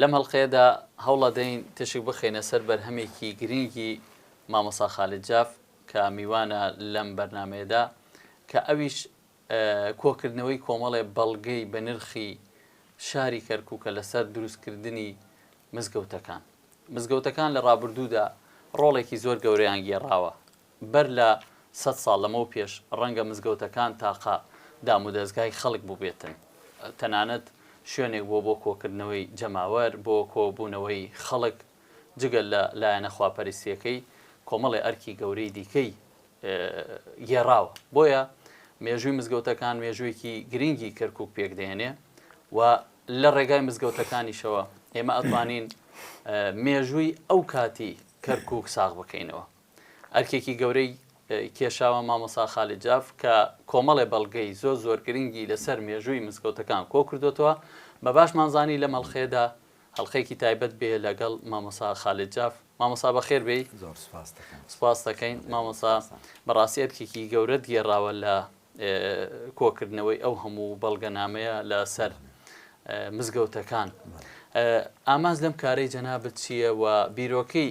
لەم هەڵقەیەدا هەوڵەدەین تیشک بخەینە سەر بەرهەمێکی گرینگی مامۆسا خالید جاف کە میوانە لەم بەرنمەیەدا کە ئەویش کۆکردنەوەی کۆمەڵێ بەڵگەی بە نرخی شاری کەرکووکە لەسەر دروستکردنی مزگەوتەکان مزگەوتەکان لە ڕابردوودا ڕۆڵێکی زۆر گەورەیان گێڕاوە بەر لە سەد ساڵ لەمەو پێش ڕەنگە مزگەوتەکان تاقە دامودەزگای خەڵک بووبێتن، تەنانەت شوێنێک بووە بۆ کۆکردنەوەی جەماوەر، بۆ کۆبوونەوەی خەڵک، جگە لە لایەنە خواپەرستییەکەی، کۆمەڵێ ئەرکی گەورەی دیکەی گێڕاوە. بۆیە مێژووی مزگەوتەکان مێژووێکی گرنگی کەرکووک پێک دەهێنێ و لە ڕێگای مزگەوتەکانیشەوە ئێمە ئەتوانین مێژووی ئەو کاتی کەرکووک ساغ بکەینەوە. ئەرکێکی گەورەی کێشاوە مامۆسا خالید جاف کە کۆمەڵێ بەڵگەی زۆر زۆر گرنگی لەسەر مێژووی مزگەوتەکان کۆ کردۆتەوە، بە باشمان زانی لەم هەڵقەیەدا هەڵقەیەکی تایبەت بێ لەگەڵ مامۆسا خالید جاف. مامۆسا بەخێر بێی. زۆر سوپاست دەکەم. سوپاست دەکەین مامۆسا، بەڕاستی ئەرکێکی گەورەت گێڕاوە لە کۆ کردنەوەی ئەو هەموو بەڵگەنامەیە لە سەر مزگەوتەکان. ئامانج لەم کارەی جەنابت چییە و بیرۆکەی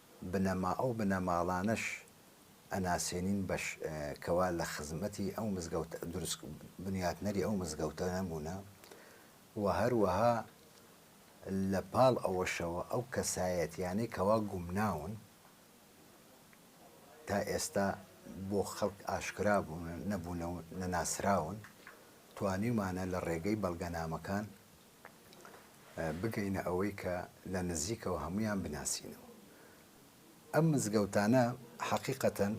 بنەما ئەو بنەماڵانەش ئەناسێنین بەش کەوا لە خزمەتی ئەو مزگەوت دروست بنیاتنەری ئەو مزگەوتە نەبوونە و هەروەها لە پاڵ ئەوەشەوە ئەو کەسایەتیانەی کەوا گومناون تا ئێستا بۆ خەڵک ئاشکرا بوون نەبوونە و نەناسراون توانیمانە لە ڕێگەی بەڵگەنامەکان بگەینە ئەوەی کە لە نزیکەوە هەموویان بناسینەوە. ئەم مزگەوتانە حەقیقەتەن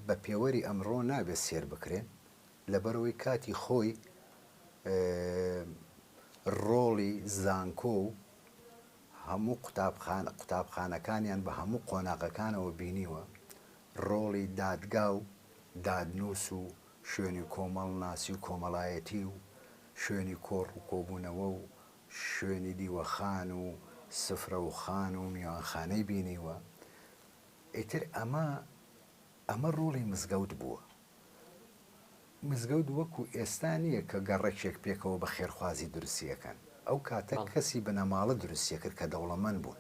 بە پێوەری ئەمڕۆ نابێت سێر بکرێن، لەبەرئەوەی کاتی خۆی ڕۆڵی زانکۆ و هەموو قوتابخانەکانیان بە هەموو قۆناغەکانەوە بینیوە، ڕۆڵی دادگا و دادنووس و شوێنی کۆمەڵناسی و کۆمەڵایەتی و شوێنی کۆڕ و کۆبوونەوە و شوێنی دیوەخان و سفرەوخان و میوانخانەی بینیوە، ئیتر ئەمە ئەمە ڕۆڵی مزگەوت بووە. مزگەوت وەکو ئێستا نییە کە گەڕەکێک پێکەوە بە خێرخوازی دروستی ئەکەن، ئەو کاتە کەسی بنەماڵە دروستی ئەکرد کە دەوڵەمەند بوون،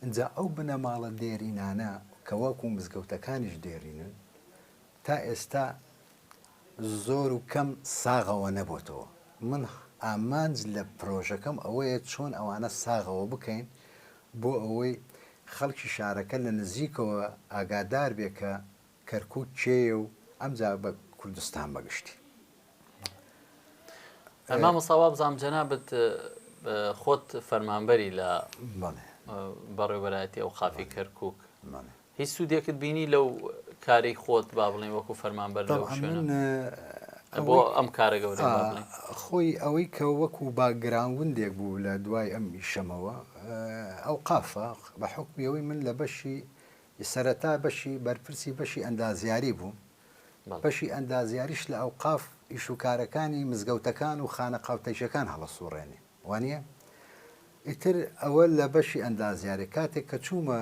ئینجا ئەو بنەماڵە دێرینانە کە وەکو مزگەوتەکانیش دێرینن، تا ئێستا زۆر و کەم ساغەوە نەبۆتەوە، من ئامانج لە پرۆژەکەم ئەوەیە چۆن ئەوانە ساغەوە بکەین بۆ ئەوەی خەڵکی شارەکە لە نزیکەوە ئاگادار بێ کە کەرکوک کێیە و ئەمجا بە کوردستان بە گشتی. مامۆستا وابزانم جەنابت خۆت فەرمانبەری لە بەڵێ. بەڕێوەبەرایەتی ئەوقافی کەرکوک. بەڵێ. هیچ سودێکت بینی لەو کارەی خۆت با بڵێن وەکو فەرمانبەر لەو شوێنە بۆ ئەم کارە گەورە خۆی ئەوەی کە وەکو باگراوندێک بوو لە دوای ئەم ئیشەمەوە ئەو قافە بە حکمیەوەی من لە بەشی سەرەتا بەشی بەرپرسی بەشی ئەندازیاری بوو بەشی ئەندازیاریش لە ئەو قاف ئیشوکارەکانی مزگەوتەکان و خانە قاوتەژەکان هەڵەسوڕێنێ وانیە؟ ئیتر ئەوە لە بەشی ئەندازیاری کاتێک کە چوومە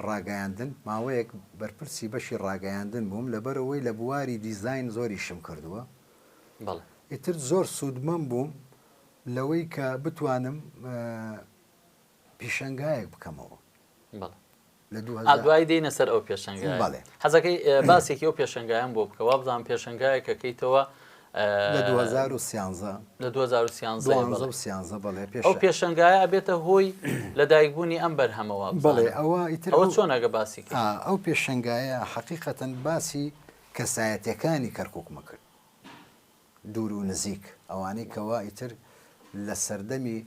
ڕاگەیاندن ماوەیەک بەرپرسی بەشی ڕاگەیاندن بووم لەبەرەوەی لە بواری دیزاین زۆریشم کردووە ئیتر زۆر سوودمەند بووم لەوەی کە بتوانم پیشەنگایەک بکەمەوە دوایی دێینە سەر ئەو پێشەنگایە حەزەکەی باسێکی ئەو پێشەنگایان بۆ بکە وابزانام پێشەنگایەکەکەیتەوە لە 2013 بڵێ پێش ئەو پێشنگایە ئەبێتە هۆی لە دایکبوونی ئەم بەرهەمەوە بڵێ ئەوە ئەوە چۆنەگە باسی ئەو پێشنگایە حقیقەتەن باسی کەسایەتەکانی کەرککمە کرد دوور و نزیک ئەوانەی کەوا ئیتر لە سەردەمی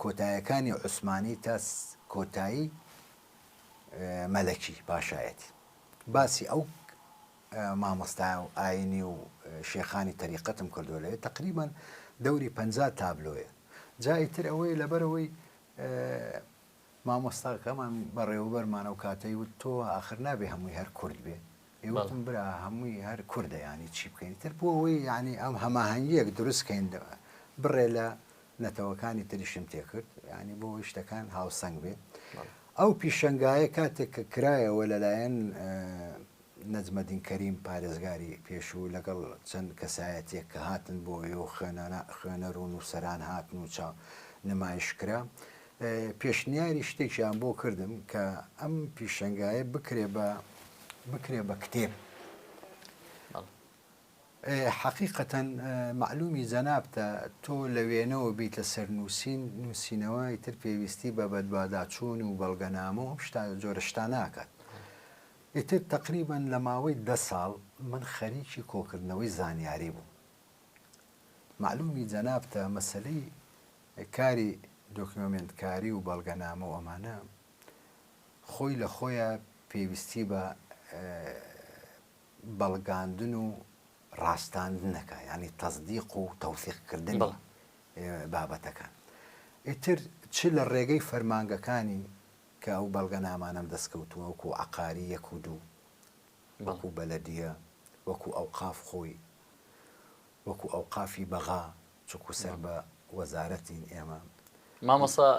کۆتایەکانی عوسمانی تا کۆتایی مەلەکی پاشایەتی باسی ئەو مامۆستایە و ئاینی و شێخانی تەریقەتم کردووە لەێ تەقریبەن دەوری پەنجا تابلۆیە جا ئیتر ئەوەی لەبەرەوەی مامۆستاکەمان بەڕێوەبەرمانە و کاتەی وت تۆ ئاخر نابێ هەمووی هەر کورد بێ ئێ وتم برا هەمووی هەر کوردە یانی چی بکەین تر بۆ ئەوەی یانی ئەم هەماهەنگیەک دروست کەین بڕێ لە نەتەوەکانی تریشم تێکرد یانی بۆ ئەوەی شتەکان هاوسەنگ بێ ئەو پیشەنگایە کاتێک کە کرایەوە لەلایەن نەجمەدین کەریم پارێزگاری پێشوو لەگەڵ چەند کەسایەتێک کە هاتن بۆ ئێ و خوێنانە خوێنەر و نووسەران هاتن و چاو نمایش کرا پێشنیاری شتێکیان بۆ کردم کە ئەم پیشەنگایە بکرێ بە بکرێ بە کتێب حەقیقەتەن معلومی جەنابتە تۆ لە وێنەوە بیت لە سەر نووسین نووسینەوە ئیتر پێویستی بە بەدواداچوون و بەڵگەنامە و شتا جۆرە شتا ناکات ئیتر تقریبان لە ماوەی ده ساڵ من خەریکی کۆکردنەوەی زانیاری بوو معلومی جەنابتە مەسلەی کاری دۆکیۆمێنتکاری و بەڵگەنامە و ئەمانە خۆی لە خۆیا پێویستی بە بەڵگاندن و ڕاستاندنەکە یانی تەزدیق و تەوسیق کردنی بابەتەکان ئیتر چ لە ڕێگەی فەرمانگەکانی کە ئەو بەڵگە نامانم دەستکەوتووە وەکو عقاری یەک و دوو وەکو بەلەدیە وەکو ئەو قاف خۆی وەکو ئەوقافی بەغا چونکو سەر بە وەزارەتین ئێمە. مامۆستا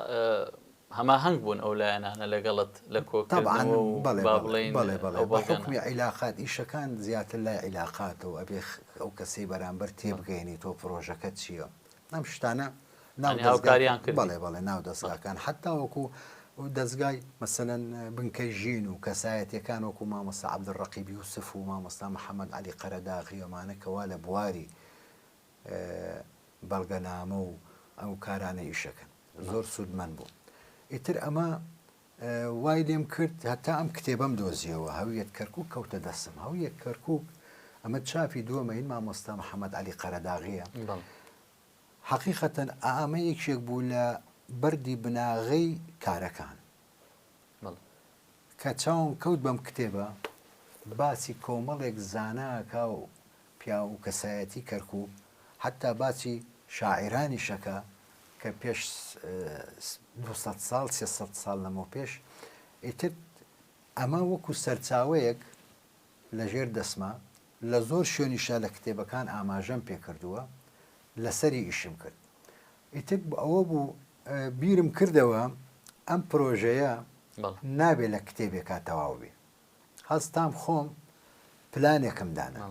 هەماهەنگ بوون ئەو لایەنانە لەگەڵت لە کۆکردنەوە و با بڵێین ئەو بەڵگانە؟ بەڵێ بەڵێ بەحوکمی عیلاقات ئیشەکان زیاتر لای عیلاقاتەوە ئەبێ ئەو کەسەی بەرامبەر تێبگەیەنیتەوە پرۆژەکە چییە ئەم شتانە. ناو هاوکاریان کرد بەڵێ بەڵێ ناو دەزگاکان حتا وەکو دەزگای مەسەن بنکەی ژین و کەسایەتەکان وەکو مامۆستا عبد ڕقیبی و سف و مامۆستا محەممەد علی قەرەداغی ئەمانەکەوا لە بواری بەڵگەنامە و ئەو کارانە ئیشەکەن زۆر سوودمەند بوو ئیتر ئەمە وای لێم کرد هەتا ئەم کتێبم دۆزیەوە هەویەت کەرکک کەوتە دەسم هەویەک کەرکک ئەمە چاپی دووەمە هین مامۆستا محەممەد علی قەرەداغیە حەقیقەتەن ئامە یەکێک بوو لە بەردی بناغەی کارەکان. کە چاوم کەوت بەم کتێبە، باسی کۆمەڵێک زانا ئەکا و پیاو و کەسایەتی کەرکوک، حەتتا باسی شاعیرانیش ئەکا کە پێش دوو سەد ساڵ، سێ سەد ساڵ لەمەوپێش. ئیتر ئەمە وەکو سەرچاوەیەک لە ژێر دەسما. لە زۆر شوێنیشا لە کتێبەکان ئاماژەم پێ کردووە، لەسەری ئیشم کرد. ئیتر ئەوە بوو بیرم کردەوە ئەم پرۆژەیە نابێ لە کتێبێکا تەواو بێ. هەستام خۆم پلانێکم دانا.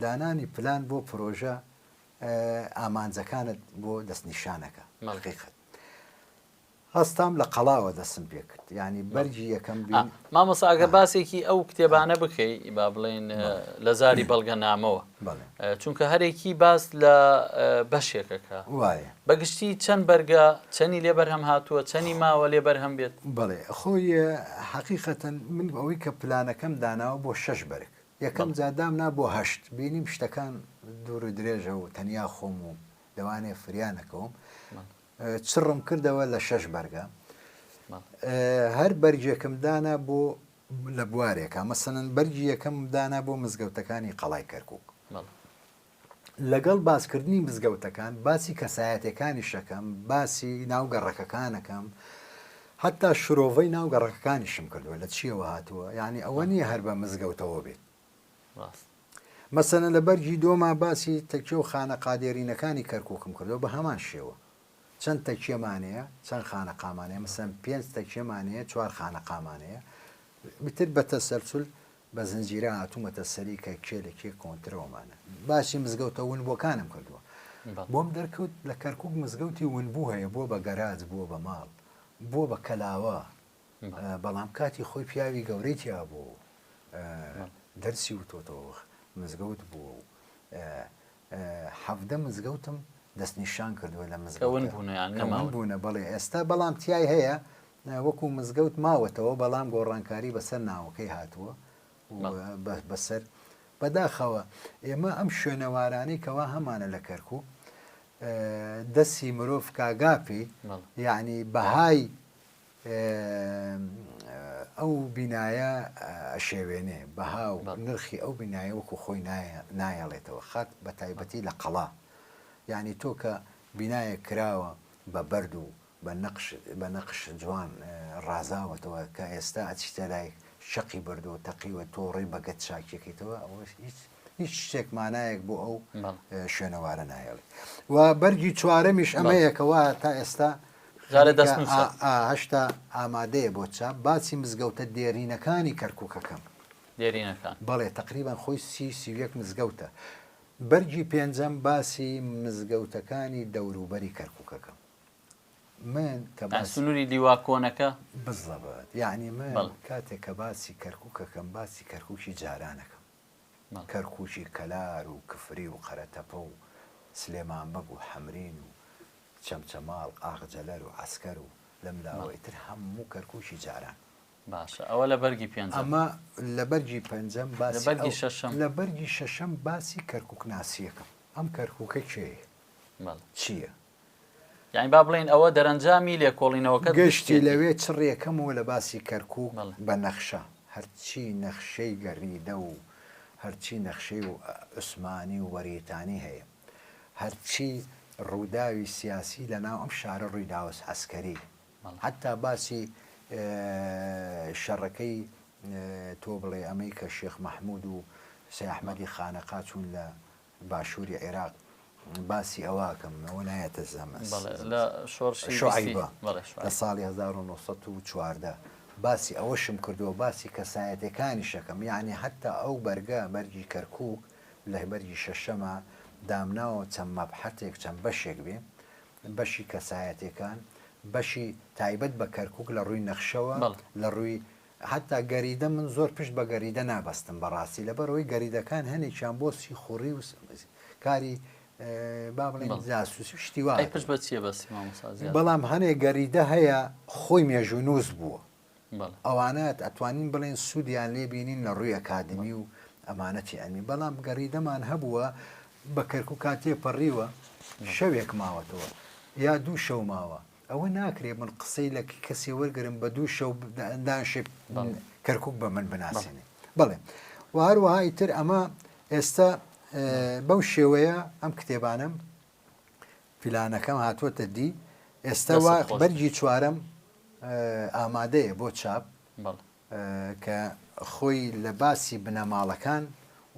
دانانی پلان بۆ پرۆژە ئامانجەکانت بۆ دەستنیشانەکە. حەقیقەت. هەستام لە قەڵاوە دەستم پێ کرد یانی بەرگی یەکەم بین. مامۆستا ئەگەر باسێکی ئەو کتێبانە بکەی با بڵێن لە زاری بەڵگەنامەوە چونکە هەرێکی باس لە بەشێکەکە وایە بەگشتی چەند بەرگە چەنی لێ بەرهەم هاتووە چەنی ماوە لێ بەرهەم بێت بڵێ خۆی حەقیقەتەن من ئەوەی کە پلانەکەم داناوە بۆ شەش بەرگ یەکەم جادام نا بۆ هەشت بینیم شتەکان دوور و درێژە و تەنیا خۆم و لەوانێ فریانەکەوم چڕم کردەوە لە شەش بەرگە هەر بەرجێکم دانا بۆ لە بوارێکە مەسەن بەرجی یەکەم دانا بۆ مزگەوتەکانی قەڵای کەرکک لەگەڵ باسکردنی مزگەوتەکان باسی کەسایەتەکانی شەکەم باسی ناو گەڕەکەکانەکەم حتا شرۆڤەی ناو گەڕەکەکانیشم کردووە لە چیەوە هاتووە یعنی ئەوە نییە هەر بە مزگەوتەوە بێت مەسەنە لە بەرگی دووەما باسی تەکیە و خانەقا دێرینەکانی کەرکووکم کردووە بە هەمان شێوە چەند تەکیەمان هەیە چەند خانەقامان هەیە مەسەن پێنج تەکیەمان هەیە چوار خانەقامان هەیە بتر بە تەسەلسول بە زنجیرە هاتوومەتە سەری کە کێ لە کێ کۆنترەوەمانە باسی مزگەوتە ونبووەکانم کردووە بۆم دەرکەوت لە کەرکک مزگەوتی ونبوو هەیە بووە بە گەراج بووە بە ماڵ بووە بە کەلاوە بەڵام کاتی خۆی پیاوی گەورەی تیا بوو و دەرسی وتۆتەوە مزگەوت بووە و حەڤدە مزگەوتم دەستنیشان کردووە لە مزگەون بوونیان نەمان بوونە بەڵێ ئێستا بەڵام تای هەیە وەکو مزگەوت ماوەتەوە بەڵام گۆڕانکاری بەسەر ناوەکەی هاتووە بەسەر بەداخەوە ئێمە ئەم شوێنەوارانەی کەوا هەمانە لە کەرکوو دەسی مرۆڤ کاگاپی یعنی بەهای ئەو بینایە ئەشێوێنێ، بەها و نرخی ئەو بینایە وەکو خۆی نایەڵێتەوە، خاک بە تایبەتی لە قەڵا، یانی تۆ کە بینایەک کراوە بە بەرد و بە نەقش بە نەقش جوان ڕازاوەتەوە کە ئێستا ئەچیتە لای شەقی بەردەوە تەقیوە تۆ ڕێ بەگەت چاکیەکەیتەوە ئەوەش هیچ هیچ شتێک مانایەک بۆ ئەو شوێنەوارە ناهێڵی و بەرگی چوارەمیش ئەمەیەکەوە تا ئێستا هەشتا ئامادەیە بۆ چاپ باچی مزگەوتە دێرینەکانی کەرککەکەم دێرینەکان بەڵێ تقریبان خۆی سی سیویەک مزگەوتە بەرگی پێنجەم باسی مزگەوتەکانی دەوروبەری کەرککەکەم من کە باسنووری دیوا کۆنەکە بزڵەبات یعنی من کاتێک کە باسی کەرککەکەم باسی کەرککی جارانەکەم کەرکوکی کەلار و کفری و قەرەتەپە و سلێمان بەگ و حەمرین و چەمچەماڵ ئاغجەلەر و عەسکەر و لەم لاوەی تر هەموو کەرکوکی جاران. باشە ئەوە لە بەرگی پێنجەم. ئەمە لە بەرگی پەنجەم باسی ئەو. لە بەرگی شەشەم. لە بەرگی شەشەم باسی کەرکوک ناسییەکەم. ئەم کەرکوکە کێیە؟ بەڵێ. چییە؟ یانی با بڵێین ئەوە دەرەنجامی لێکۆڵینەوەکەت گشتی لەوێ چڕیە کەمەوە لە باسی کەرکوک بە نەخشە هەرچی نەخشەی گەریدە و هەرچی نەخشەی و عوسمانی و وەریتانی هەیە هەرچی ڕوداوی سیاسی لە ناو ئەم شارە ڕوی داوەس عسکەری حتا باسی شەڕەکەی تۆ بڵێ ئەمەی کە شێخ مەحمود و سەحمەدی خانەقا چوون لە باشوری عێراق باسی ئەوەکەم ئەوە نایەتە زەمەس لە شۆڕشی شعیبە لە ساڵی 1940 باسی ئەوەشم کردووە باسی کەسایەتەکانی شەکەم یعنی حتا ئەو بەرگە بەرگی کەرکک لە بەرگی شەشەمە دامناوە چەند مەبحەتێک چەند بەشێک بێ بەشی کەسایەتەکان بەشی تایبەت بە کەرکک لە ڕووی نەخشەوە لە ڕووی هەتا گەریدە من زۆر پشت بە گەریدە نابەستم بەڕاستی لەبەرەوەی گەریدەکان هەنێکیان بۆ سیخوڕی و کاری با بڵێن جاسوسی و شتی وا ئەی پشت بە چییە بەسی مامۆستا زیاد بەڵام هەنێ گەریدە هەیە خۆی مێژوو نووس بووە بەڵێ ئەوانەت ئەتوانین بڵێن سوودیان لێ بینین لە ڕووی ئەکادمی و ئەمانەتی ئەمی بەڵام گەریدەمان هەبووە بە کەرک و کاتێ پەڕیوە شەوێک ماوەتەوە یا دوو شەو ماوە ئەوە ناکرێ من قسەی لە کەسێ وەرگرم بە دوو شەو دانشێ کەرکک بە من بناسیێنێ بڵێ و هەروەهای تر ئەمە ئێستا بەو شێوەیە ئەم کتێبانم پیلانەکەم هاتووەتە دی ئێستا بەرگی چوارم ئامادەیە بۆ چاپ کە خۆی لە باسی بنەماڵەکان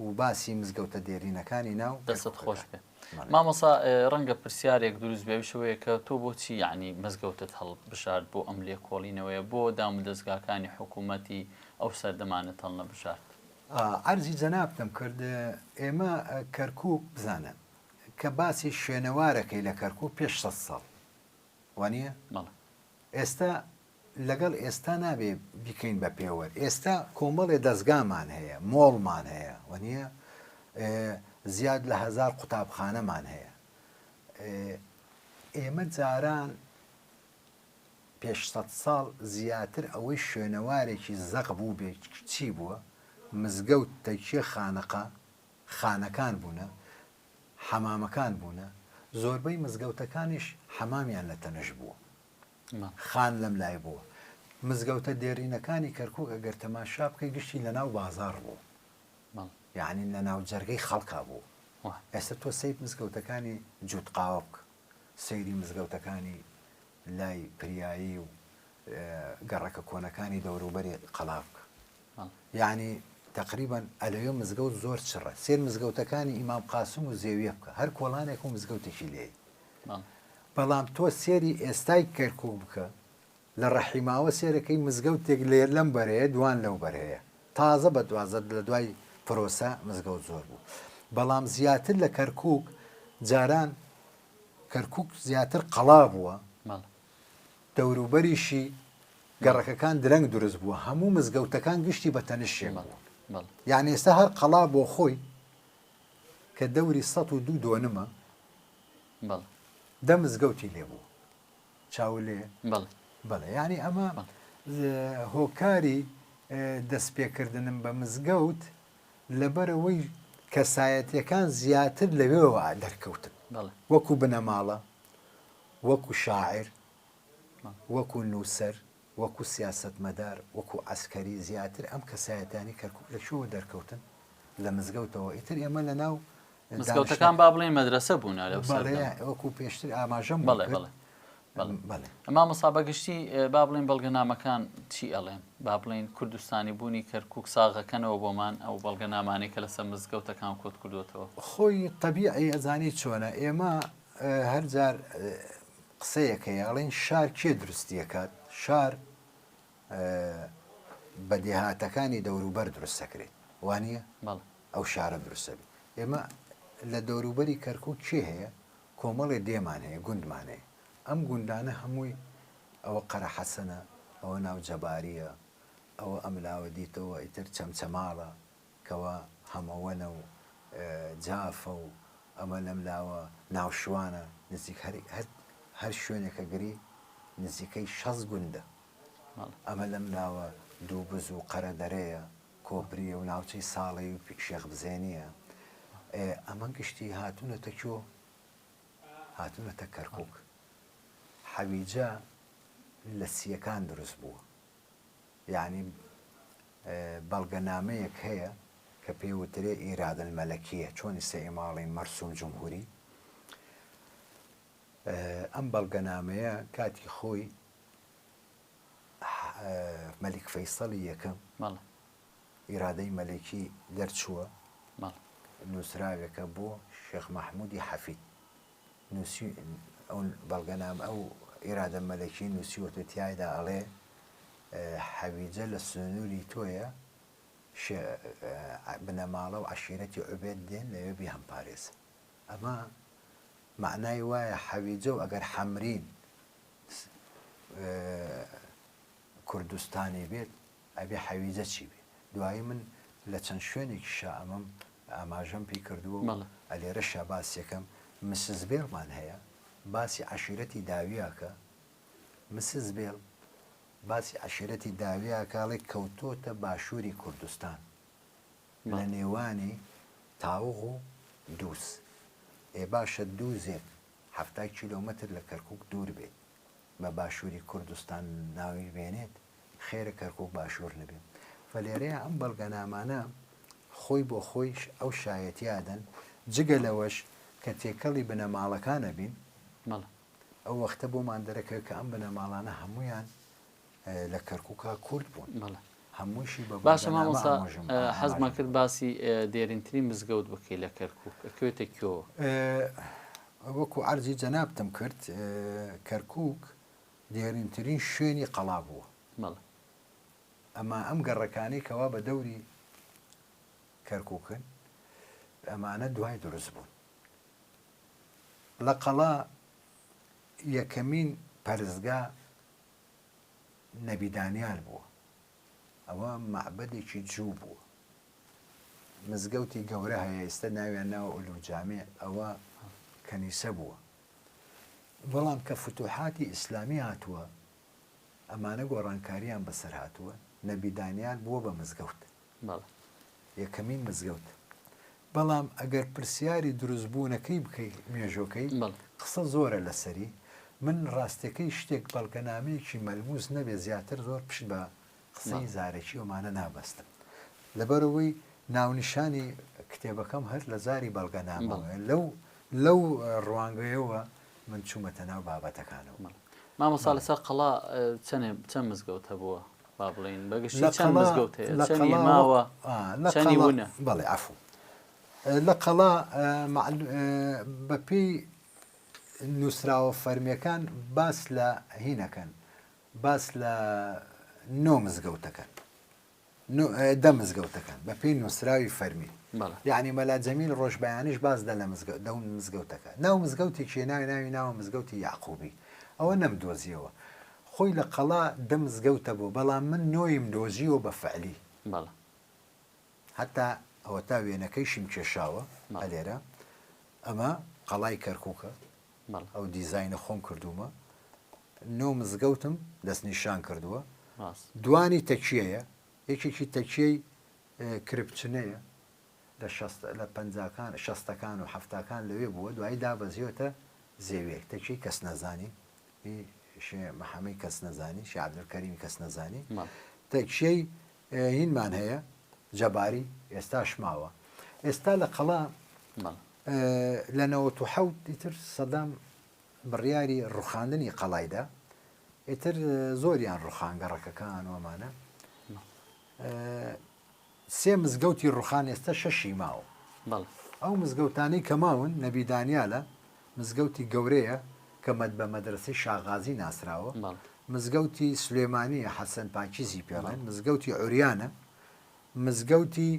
و باسی مزگەوتە دێرینەکانی ناو دەستت خۆش بێ مامۆسا ڕەنگە پرسیارێک دروست بێ شوەیە کە تۆ بۆچی یعنی مزگەوتت هەڵ بشارد بۆ ئەم لێکۆڵینەوەیە بۆ دام و دەستگاکانی حکوومەتی ئەو سەردەمانە تەڵنە بشارد عەرزی جەنابتم کرد ئێمە کەرکک بزانە کە باسی شوێنەوارەکەی لە کەرکک پێش سە ساڵ وانە؟ ئێستا لەگەڵ ئێستا نابێ بیکەین بە پێوەر، ئێستا کۆمەڵێ دەزگامان هەیە، مۆڵمان هەیە وەنیە، زیاد لە هەزار قوتابخانەمان هەیە، ئێمە جاران پێش سەد ساڵ زیاتر ئەوەی شوێنەوارێکی زەق بوو بێ چی بووە، مزگەوت تەکیە خانەقا خانەکان بوونە، حەمامەکان بوونە، زۆربەی مزگەوتەکانیش حەمامیان لە تەنش بوو. خان لەم لای بوو. مزگەوتە دێرینەکانی کەرکووک ئەگەر تەماشا بکەی گشتی لە ناو بازاڕ بوو. یانی لە ناو جەرگەی خەڵکا بوو. ئێستا تۆ سەیر مزگەوتەکانی جووتقاوە بکە، سەیری مزگەوتەکانی لای پریایی و گەڕەکە کۆنەکانی دەوروبەری قەڵا بکە یانی تەقریبەن ئەلەوێ مزگەوت زۆر چڕە سێر مزگەوتەکانی ئیمام قاسم و زێویە بکە هەر کۆڵانێک و مزگەوتێکی لێی بەڵام تۆ سێری ئێستای کەرکک بکە لە ڕەحیماوە سێرەکەی مزگەوتێک لێر لەم بەرەیە دوان لەو بەرەیە تازە بە دوازت لە دوای پرۆسە مزگەوت زۆر بوو بەڵام زیاتر لە کەرکک جاران کەرکوک زیاتر قەڵا بووە، دەوروبەریشی گەڕەکەکان درەنگ دروست بووە، هەموو مزگەوتەکان گشتی بە تەنش شێ بوون، یان ئێستا هەر قەڵا بۆ خۆی کە دەوری سەد و دوو دۆنمە دە مزگەوتی لێ بوو چاو لێ بەڵێ ینی ئەمە هۆکاری دەستپێکردنم بە مزگەوت لەبەرئەوەی کەسایەتیەکان زیاتر لەوێوە دەرکەوتن وەکو بنەماڵە، وەکو شاعیر، وەکو نووسەر، وەکو سیاسەتمەدار، وەکو عەسکەری زیاتر ئەم کەسایەتیانەی کەرکوک لەکوێوە دەرکەوتن؟ لە مزگەوتەوە ئیتر ئێمە لەناو مزگەوتەکان با بڵێن مەدرسە بوون وەکو پێشتر ئاماژەم بڵێ بڵێ ئەما مسابە گشتی با بڵێن بەڵگەنامەکان چی ئەڵێن با بڵین کوردستانی بوونی کەرکک ساغەکەنەوە بۆمان ئەو بەڵگە نامانێکە لەسەر مزگەوتەکان کۆت کردوێتەوە خۆی طببیعی ئەزانی چۆنە ئێمە هەرجار قسەیەکە یاڵین شار کێ دروستیەکات شار بەدێهاتەکانی دەوروبەر دروستەکرێت وانە؟ ئەو شارە دروستە بێت ئێمە لە دەوروبەری کەرکوک چێ هەیە کۆمەڵێ دێمان هەیە گوندمان هەیە ئەم گوندانە هەمووی ئەوە قەرە حەسەنە ئەوە ناو جەباریە ئەوە ئەم لاوە دیتەوە ئیتر چەمچەماڵە کەوا هەمەوەنە و جافە و ئەمە لەم لاوە ناوشوانە نزیک هەر هەر هەر شوێنێکە گری نزیکەی شەست گوندە ئەمە لەم لاوە دوو بز و قەرە دەرەیە کۆپریە و ناوچەی ساڵەی و شێخ بزێنیە ئەمە گشتی هاتونەتە کۆ هاتونەتە کەرکوک حەویجە لە سیەکان دروست بووە یانی بەڵگە نامەیەک هەیە کە پێ وترێ ئیرادە المەلەکیە چۆن ئیسە ئێماڵی مەرسوم جمهوری ئەم بەڵگە نامەیە کاتی خۆی مەلیک فەیسەڵی یەکەم ئیرادەی مەلەکی دەرچووە نووسراوێکە بۆ شێخ مەحمودی حەفید نووسی ئەو بەڵگەنام ئەو ئیرادە مەلەکی نووسیوەتە تایدا ئەڵێ حەویجە لە سنووری تۆیە بنەماڵە و عشیرەتی عوبێت دێن لەوێ بێ هەمپارێزن ئەمە مەعنای وایە حەویجە و ئەگەر حەمرین کوردستانی بێت ئەبێ حەویجە چی بێ دوایی من لە چەند شوێنێکی شا ئەمەم ئاماژەم پێی کردووە و ئەلێرە شاباسیەکەم مسز بێڵمان هەیە باسی عشیرەتی داویاکە مسز بێڵ باسی عشیرەتی داویاکاڵێک کەوتۆتە باشووری کوردستان لە نێوانی تاوغ و دووز. ئێ باشە دووزێک حەفتا کیلۆمەتر لە کەرکووک دوور بێت، بە باشووری کوردستان ناوی بێنێت، خێرە کەرکووک باشوور نەبێت؟ و لێرەیا ئەم بەڵگەنامانە خۆی بۆ خۆیش ئەو شایەتییە دەن، جگە لەوەش کە تێکەڵی بنەماڵەکان ئەبین، ئەو وەختە بۆمان دەرەکەوێت کە ئەم بنەماڵانە هەموویان لە کەرکوکا کورد بوون بەڵێ هەمووشی بە باشە مامۆسا حەزمان کرد باسی دێرینتری مزگەوت بکەی لە کەرکک ئەکوێتە کۆ وەکو ئەرزی جەنابتم کرد کەرکک دێرینترین شوێنی قەڵا بووە ئەمە ئەم گەڕەکانی کەوا بە دەوری کەرککن ئەمانە دوای دروست بوون لە قەڵا یەکەمین پەرستگا نەبی دانیال بووە ئەوە مەعبەدێکی جوو بووە مزگەوتی گەورە هەیە ئێستا ناویان ناوە ئولوجامێ ئەوە کەنیسە بووە بەڵام کە فتوحاتی ئیسلامی هاتووە ئەمانە گۆڕانکاریان بەسەر هاتووە نەبی دانیال بووە بە مزگەوت بەڵێ. یەکەمین مزگەوت. بەڵام ئەگەر پرسیاری دروست بوونەکەی بکەی مێژۆکەی بەڵێ. قسە زۆرە لەسەری من ڕاستەکەی شتێک بەڵگەنامەیەکی مەلموس نەبێ زیاتر زۆر پشت بە قسەی بەڵێ. زارەکی ئەمانە نابەستم لەبەرئەوەی ناونیشانی کتێبەکەم هەر لە زاری بەڵگەنامەوە بەڵێ. لەو لەو ڕوانگەیەوە من چوومەتە ناو بابەتەکانەوە. بەڵێ. مامۆستا بەڵێ. لەسەر قەڵا چەنێ چەن مزگەوت هەبووە؟ با بڵێین بە گشتی چەند مزگەوت هەیە؟ لە چەنی قەڵا- ماوە ئا، لە چەنی قەڵا- ونە؟ بەڵێ عەفو لە قەڵا ئە، مەعلو ئە، بەپێی نووسراوە فەرمییەکان باس لە هینەکەن باس لە نۆ مزگەوت دەکەن نۆ ئە، دە مزگەوت دەکەن بە پێی نووسراوی فەرمی بەڵێ. یعنی مەلا جەمیل ڕۆژبەیانیش باس دە لە مزگە دە مزگەوتەکە ناو مزگەوتێکی ناوی ناوی ناوە مزگەوتی یاقوبی ئەوە نەمدۆزیەوە خۆی لە قەڵا دە مزگەوتە بۆ بەڵام من نۆیم دۆزیوە بە فعلی بەڵێ هەتا ئەوەتا وێنەکەیشیم کێشاوە بەڵێ ئەلێرە ئەمە قەڵای کەرکوکە بەڵێ ئەو دیزاینە خۆم کردومە نۆ مزگەوتم دەست نیشان کردووە ڕاست دوانی تەکیەیە یەکێکی تەکیەی اه، کرپچنەیە لە شەست- لە پەنجاکان شەستەکان و حەفتاکان لەوێ بووە دوایی دابەزیوەتە زێویەک تەکیەی کەس نەزانی ی شێ محەمەی کەس نەزانی شێ عەبدولکەریمی کەس نەزانی تەکشەی هینمان هەیە جەباری ئێستاش ماوە ئێستا لە قەڵا لە نەوە و حەوت ئیتر سەدام بڕیاری ڕوخاندنی قەڵایدا ئیتر زۆریان ڕوخانگەڕەکەکان وەمانە سێ مزگەوتی ڕوخان ئێستا شەشی ماوە بەڵێ. ئەو مزگەوتانەی کە ماون نەبی دانیالە مزگەوتی گەورەیە کە مە بە مەدرەسەی شا غازی ناسراوە بەڵێ. مزگەوتی سلێمانیە حەسەن پاکیزی پێڵێن بەڵێ. مزگەوتی عوریانە مزگەوتی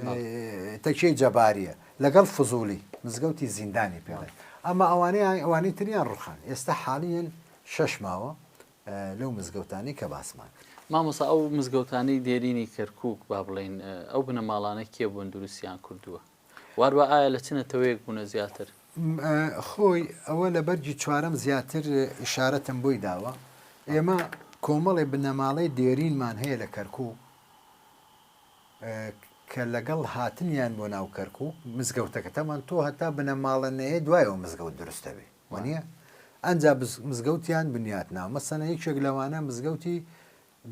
بەڵێ. تەکیەی جەباریە لەگەڵ فزوڵی مزگەوتی زیندانی بەڵێ. پێڵێن ئەمە ئەوانەیە ئەوانەی تریان ڕوخان ئێستا حالیەن شەش ماوە لەو مزگەوتانەی کە باسمان کرد. مامۆستا ئەو مزگەوتانەی دێرینی کەرکوک با بڵێین ئەو بنەماڵانە کێ بوون دروستیان کردووە؟ واروا ئایا لە چ نەتەوەیەک بوونە زیاتر؟ خۆی ئەوە لە بەرگی چوارەم زیاتر ئیشارەتم بۆی داوە ئێمە کۆمەڵی بنەماڵەی دێرینمان هەیە لە کەرکوک کە لەگەڵ هاتنیان بۆ ناو کەرکوک مزگەوتەکەتەمان تۆ هەتا بنەماڵە نەیە دوایەوە مزگەوت دروستەبێ وانیە؟ ئەنجا مزگەوتیان بنیات ناوە مەسەنە یەکێک لەوانە مزگەوتی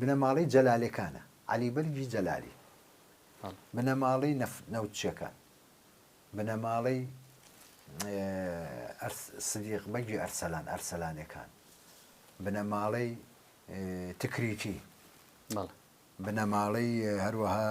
بنەماڵەی جەلالێکانە عەلی بەرگی جەلالی بنەماڵەی نەوتچەکان بنەماڵەی سدیق بەگی ئەرسەلان ئەرسەلانەکان بنەماڵەی تکریتی بنەماڵەی هەروەها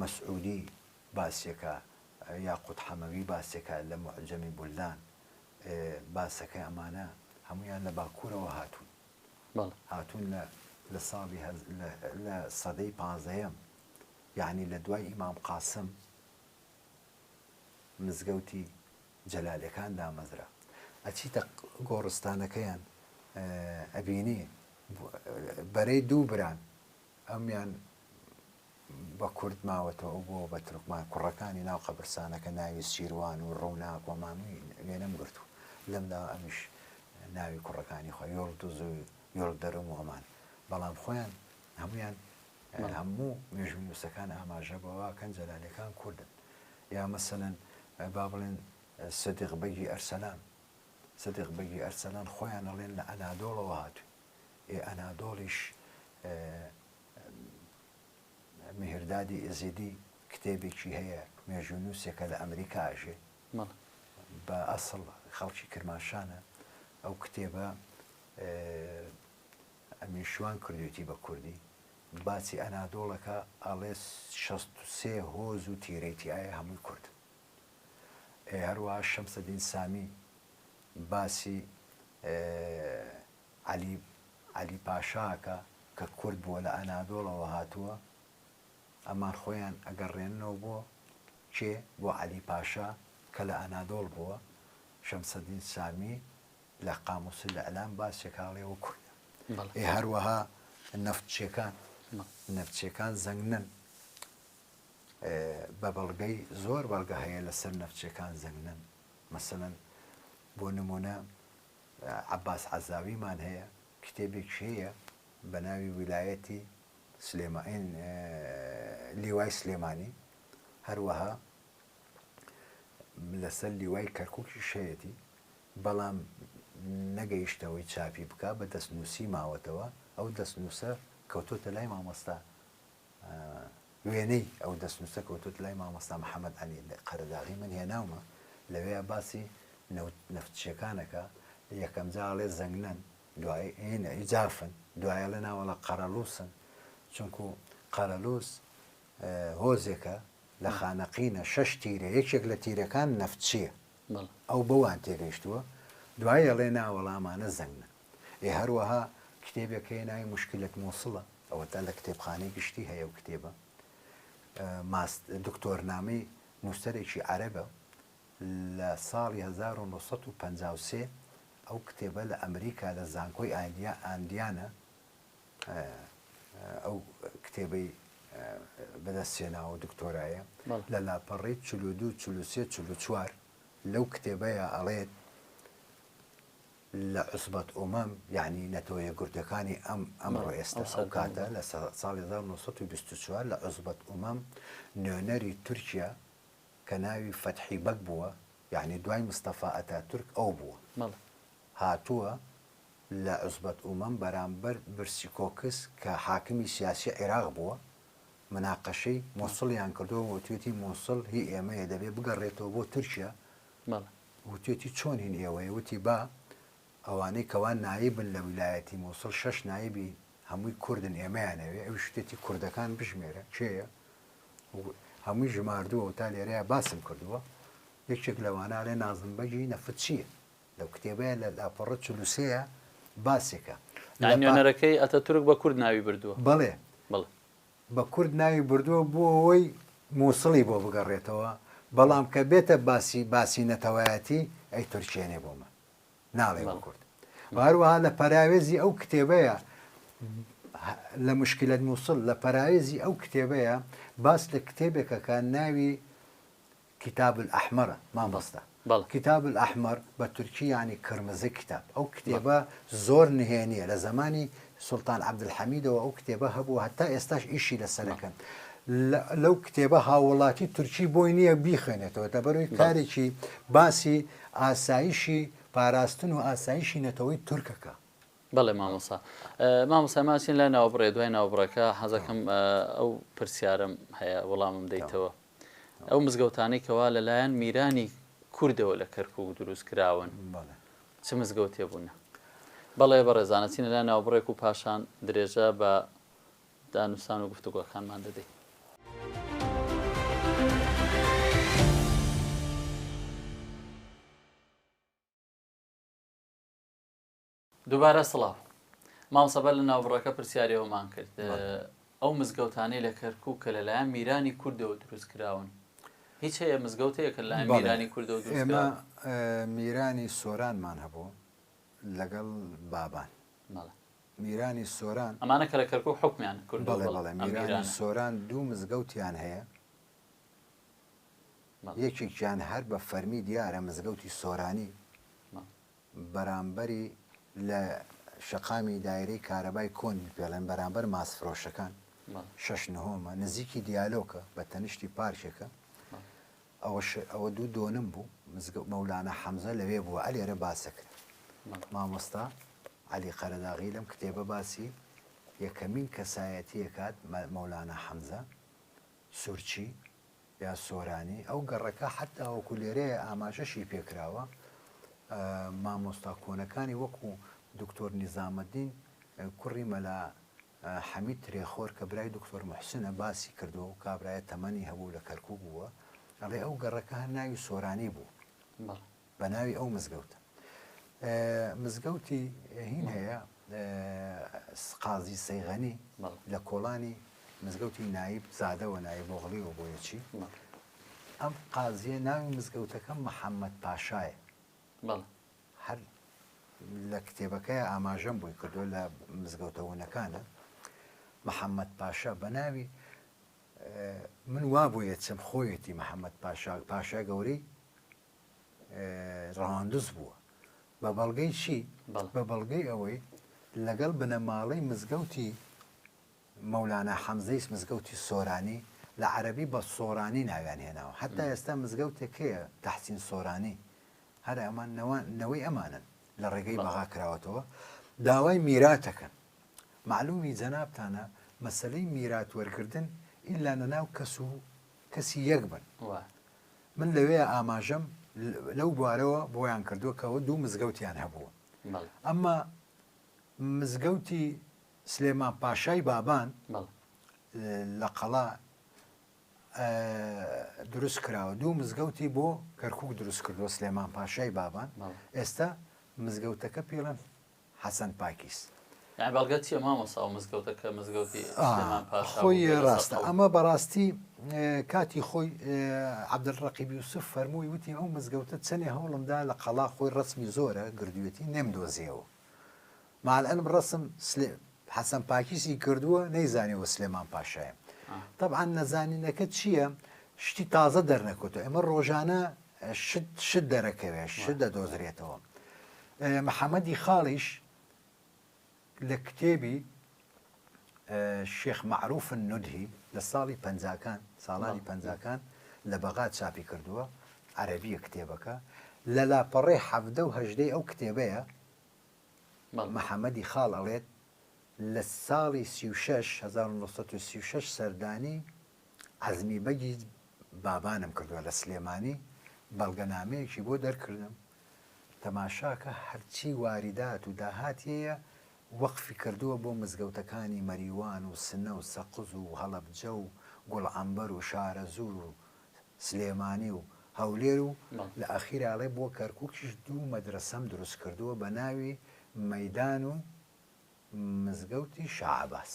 مەسعودی باسیەکە یاقوت حەمەوی باسیەکە لە موعجەمی بولدان باسەکەی ئەمانە هەموویان لە باکورەوە هاتوون هاتوون لە لە ساڵی لە سەدەی پازەیەم یعنی لە دوای ئیمام قاسم مزگەوتی جەلالەکان دامەزرا ئەچیتە گۆڕستانەکەیان ئەبینی بەرەی دوو بران ئەمیان بە کورد ماوەتەوە ئەو بۆ بە تورکمان کوڕەکانی ناو قەبرسانەکە ناوی سیروان و ڕووناک و ماموی وێ نەم گرت و لەم لا ئەمیش ناوی کوڕەکانی خۆ یۆڵ دوز و یۆڵ دەرم و ئەمان بەڵام خۆیان هەمویان هەموو مێژوو نووسەکان ئاماژە بەواکەن جەلالەکان کوردن یا مەسەەن با بڵێن سدیق بەگی ئەرسەلان سدیق بەگی ئەرسەلان خۆیان ئەڵێن لە ئەنادۆڵەوە هاتووی ی ئەنادۆڵیش میهردادی ئێزیدی کتێبێکی هەیە مێژوونووسێکە لە ئەمریکا ئەژێ بە ئەسڵ خەڵکی کرماشانە ئەو کتێبە ئەمین شوان کردوێتی بە کوردی باچی ئەنادۆڵەکە ئاڵێس 16 هۆز و تیرەیتی ئایا هەمووی کورد هەروەها شەمسەدین سامی باسی عەلی عەلی پاشا ئەکا کە کورد بووە لە ئەنادۆڵەوە هاتووە ئەمان خۆیان ئەگەڕێننەوە بۆ کێ بۆ عەلی پاشا کە لە ئەنادۆڵ بووە شەمسەدین سامی لە قاموسی لە ئەلام باسێکاڵێەوە کوردە ئێ هەروەها نەفتچیەکان نەفچیەکان زەنگنن بە بەڵگەی زۆر بەڵگە هەیە لەسەر نەفچەکان زەنگنەن مەسەلەن بۆ نمونە عباس عەزاویمان هەیە کتێبێک هەیە بە ناوی ویلایەتی سلێمائین لیوای سلێمانی هەروەها لەسەر لیوای کەرککی شەیەتی بەڵام نەگەیشتەوەی چاپی بک بە دەستنووسی ماوەتەوە ئەو دەستنووسە کەوتۆتە لای مامۆستا وێنەی ئەو دەستنووسە کەوتۆتە لای مامۆستا محەمەد ئەمین قەرەداغی من هێناومە لەوێیا باسی نەفتچیەکانەکە یەکەم جاڵێ زەنگنەن دوای جافن دوایە لە ناوەڵە قەرەلووسن چونکو قەرەلووس هۆزێکە لە خانەقینە شەش تیرە یەکێک لە تیرەکان نەفتچیە ئەو بەوان تێگەیشتووە دوایە لێ ناوەڵامانە زەنگە ئێ هەروەها کتێبێک هەیە ناوی مشکلەت موسڵە ئەوەتا لە کتێبخانەی گشتی هەیە و کتێبە ماست دکتۆرنامەی نووسەرێکی عەرەبە لە ساڵی 1953 ئەو کتێبە لە ئەمریکا لە زانکۆی ئایدیا ئاندیانە ئەو کتێبەی بەدەستێناوە دکتۆرایە لە لاپەڕی چلو دو چلوسێ چلو چوار لەو کتێبەیە ئەڵێت لە عوسبەت ئومەم یەعنی نەتەوەیەکگرتووەکانی ئەم ئەمڕۆ ئێستا ئەو کاتە لە ساڵی هەزار و نۆ سەد و بیست و چوار لە عوسبەت ئومەم نوێنەری تورکیا کە ناوی فەتحی بەگ بووە یەعنی دوای مستەفا ئەتاتورک ئەو بووە هاتووە لە عوسبەت ئومەم بەرامبەر برسی کۆکس کە حاکمی سیاسی عیراق بووە مناقەشەی موسڵیان کردووە وتویەتی موسڵ هی ئێمەیە دەبێ بگەڕێتەوە بۆ تورکیا وتوێتی چۆن هین ئێوەیە وتی با ئەوانەی کەوا نایبن لە ویلایەتی موسڵ شەش نایبی هەمووی کوردن ئێمەیان ئەوێ ئەویش وتێتی کوردەکان بژمێرە کێیە هەمووی ژماردووە تا لێرەیە باسم کردووە یەکێک لەوانە لێ نازم بەگی نەفتچیە لەو کتێبەیە لە لاپەڕە چلوسەیە باسێکە نوێنەرەکەی ئەتە تورک بە کورد ناوی بردووە بڵێ بڵێ بە کورد ناوی بردووە بۆ ئەوەی موسڵی بۆ بگەڕێتەوە بەڵام کە بێتە باسی باسی نەتەوایەتی ئەی تورکێنێ بۆ من ناڵێ بە کورد و هەروەها لە پەراوێزی ئەو کتێبەیە لە مشکلت موسڵ لە پەراوێزی ئەو کتێبەیە باس لە کتێبێکەکە ناوی کتاب الاحمرە مامۆستا. بەڵێ. کتاب الاحمر بە تورکی یانی کرمزی کتاب ئەو کتێبە زۆر نهێنیە لە زەمانی سوڵتان عبدالحمیدەوە ئەو کتێبە هەبوو هەتا ئێستاش ئیشی لەسەر ئەکەن لەو کتێبە هاوڵاتی تورکی بۆی نییە بیخوێنێتەوە دەبەروی کارێکی باسی ئاسایشی پاراستن و ئاسایشی نەتەوەی تورکەکە. بەڵێ مامۆسا مامۆسا ماچین لای ناوبڕێ دوای ناوبڕەکە حەزەکەم ئەو پرسیارم هەیە وەڵامم دەیتەوە. ئەو مزگەوتانەی کەوا لەلایەن میرانی کوردەوە لە کەرکوک دروست کراون چ مزگەوتێ بوونە؟ بەڵێ بەڕێزان ئەچینە لای ناوبڕێک و پاشان درێژە بە دانوستان و گفتوگۆکانمان دەدەین. دوبارە سڵاو مامۆستا بەر لە ناوبڕەکە پرسیاری ئەومان کرد ئەو مزگەوتانەی لە کەرکوک کە لەلایەن میرانی کوردەوە دروست کراون هیچ هەیە مزگەوتەیەکە لە میرانی کوردەوە ئێمە میرانی سۆرانمان هەبوو لەگەڵ بابان میرانی سۆران ئەمانە کە لە کەرکک حکمیان کرد بەڵێ بەڵێ میرانی سۆران دوو مزگەوتیان هەیە یەکێکیان هەر بە فەرمی دیارە مزگەوتی سۆرانی بەرامبەری لە شەقامی دایرەی کارەبای کۆنی پێڵێن بەرامبەر ماسفرۆشەکان شەش نهۆمە نزیکی دیالۆکە بە تەنیشتی پارکێکە ئەوەش ئەوە دوو دۆنم بوو مزگە مەولانە حەمزە لەوێ بووە ئەلێرە باسەکرا مامۆستا علی قەرەداغی لەم کتێبە باسی یەکەمین کەسایەتیەکات مەولانە حەمزە سورچی یا سۆرانی، ئەو گەڕەکە حەتا وەکو لێرەیە ئاماژەشی پێکراوە، مامۆستا کۆنەکانی وەکو دوکتۆر نیزامەدین کوڕی مەلا حەمید ترێخۆر کە برای دوکتۆر موحسنە باسی کردووە، ئەو کابرایە تەمەنی هەبوو لە کەرکووک بووە، ئەڵێ ئەو گەڕەکە هەر ناوی سۆرانی بوو. بەناوی ئەو مزگەوتە مزگەوتی هین هەیە قازی سەیغەنی لە کۆڵانی مزگەوتی نایب زادەوە نایە بۆغڵیەوە بۆیەچی ئەم قازیە ناوی مزگەوتەکە محەممەد پاشایە هەر لە کتێبەکەی ئاماژەم بووی کردو لە مزگەوتەونەکانە محەممەد پاشا بە ناوی من وا بۆیە چم خۆیەتی محەممەد پاشا پاشا گەورەی ڕەواندز بووە بە بەڵگەی چی بە بەڵگەی ئەوەی لەگەڵ بنەماڵەی مزگەوتی مەولانا حەمزەیس مزگەوتی سۆرانی لە عەربی بە سۆرانی ناویان هێناوە حتا ئێستا مزگەوتێکەیە تەحسین سۆرانی هەر ئەمان نەوەی ئەمانن لە ڕێگەی بەغا کراوەتەوە داوای میراتەکەن معلومی جەنابتانە مەسلەی میرات وەرگتن ئللا نەناو کەس و کەسی یەک بن من لەوێ ئاماژەم لەو بوارەوە بۆیان کردووە کەەوە دوو مزگەوتیان هەبوو ئەمما مزگەوتی سلێمان پاشای بابان لە قەڵا دروست کراوە دوو مزگەوتی بۆ کەرکک دروست کردووە سلێمان پاشای بابان ئێستا مزگەوتەکە پێڵەن حەسەن پاکیس. یانی بەڵگەت چیە مامۆسا ئەو مزگەوتە کە مزگەوتی سلێمان پاشا بوو بێ لەسەر قەولی. خۆی ڕاستە ئەمە بەڕاستی کاتی خۆی عبدل ڕەقیب یوسف فەرمووی وتی ئەو مزگەوتە چەنێ هەوڵم دا لە قەڵا خۆی ڕەسمی زۆرە گردوێتی نەم دۆزیەوە مالعلم ڕەسم حەسەن پاکیسی کردووە نەیزانیەوە سلێمان پاشایە تەبعەن نەزانینەکە چیە شتی تازە دەرنەکەوتەوە ئێمە ڕۆژانە شت شت دەرەکەوێ شت دەدۆزرێتەوە. محەمەدی خاڵیش لە کتێبی شێخ مەعروف نودهی لە ساڵی پەنجاکان ساڵانی پەنجاکان لە بەغا چاپی کردووە عەرەبیە کتێبەکە لە لاپەڕەی حەڤدە و هەژدەی ئەو کتێبەیە محەمەدی خاڵ ئەڵێت لە ساڵی سی و شەش هەزار و نۆ سەد و سی و شەش سەردانی عەزمی بەگی بابانم کردوە لە سلێمانی بەڵگەنامەیەکی بۆ دەرکردم تەماشاکە هەرچی واریدات و داهاتیەیە وەقفی کردووە بۆ مزگەوتەکانی مەریوان و سنە و سەقز و هەڵەبجە و گوڵعەمبەر و شارەزوور و سلێمانی و هەولێر و لە ئەخیرا ئەڵێ بۆ کەرکوکیش دوو مەدرەسەم دروست کردووە بە ناوی مەدان و مزگەوتی شاعباس